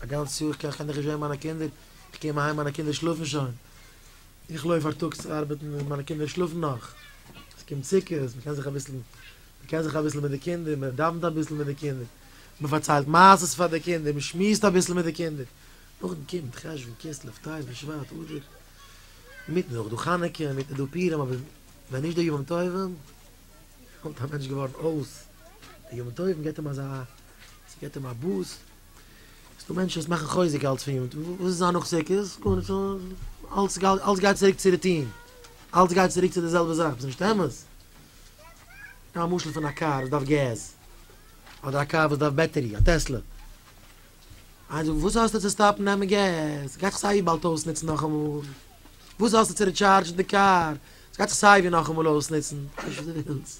א גאנץ יאר קען איך נישט זעהן מיינע קינדער, איך קום אהיים מיינע קינדער שלאפן שוין, איך לויף פארטאגס ארבעטן און מיינע קינדער שלאפן נאך, עס קומט סוכות, מען קען זיך אביסל, מען קען זיך אביסל מיט די קינדער, מען דאווענט אביסל מיט די קינדער, מען פארציילט מעשות פאר די קינדער, מען שמועסט אביסל מיט די קינדער, נאכדעם קומט חשוון, כסלו, טבת, בשבט, אדר, אינמיטן איז אויך דא חנוכה, אינמיטן איז דא פורים, אבער ווען נישט די ימים טובים, ווערט א מענטש געווארן אויס, די ימים טובים גיבט אים אזא ס'געט אים א בוסט. ס'דא מענטשן וואס מאכן חוזק אלץ פון יונט. וואס איז זיין נאכזעקערס? גארנישט. אלץ גייט, אלץ גייט צוריק צו רוטין. אלץ גייט צוריק צו די זעלבע זאך. וואס איז נישט אמת. נעם א משל פון א קאר וואס דארף געז. אדער א קאר וואס דארף בעטערי. א טעסלע. איינער זאגט, וואס האסטו צו סטאפן נעמען געז? ס'גייט זיך סייווי באלד אויסנוצן נאכאמאל. וואס האסטו צו ריטשארדזשן די קאר? ס'גייט זיך סייווי נאכאמאל אויסנוצן. טוה וואס דו ווילסט.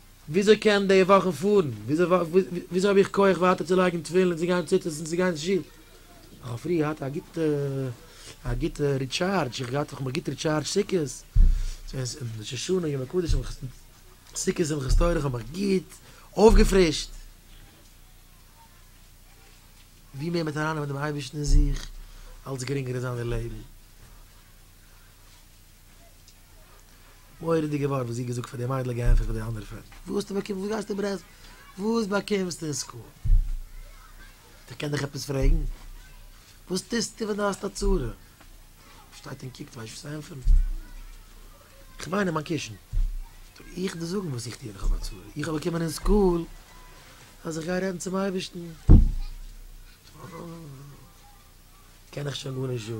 וויאזוי קען די וואכן פארן? וויאזוי האב איך כח ווייטער צו לייגן תפילין און צו גיין ציצית און צו גיין צו שול? איך האב פריער געהאט א גוטע א גוטע ריטשארדזש, איך האב געהאט איך האב מיך גוט ריטשארדזשט סוכות, און ראש השנה און ימי קודש און סוכות שמחת תורה, איך האב מיך גוט אויפגעפרישט. ווי מער מ'העט ארייננעמען דעם אייבערשטן אין זיך, אלץ גרינגער איז זיין די לעבן. מורא'דיגע ווארט וואס זי האט געזאגט פאר די מיידל געענטפערט פאר די אנדערע פערטל, וואס טו באקומסט וואס גייסטו ברעסט וואס באקומסטו אין סקול? איך קען דיך עפעס פרעגן? וואס טוסטו ווען דו האסט א צרה? שטייט און קוקט ווייסט נישט וואס צו ענטפערן. כ'מיין אין מיין קישן. טו איך דיר זאגן וואס איך טו ווען איך האב א צרה? איך האב באקומען אין סקול אז איך גיי רעדן צום אייבערשטן. קען איך שוין גארנישט זאגן.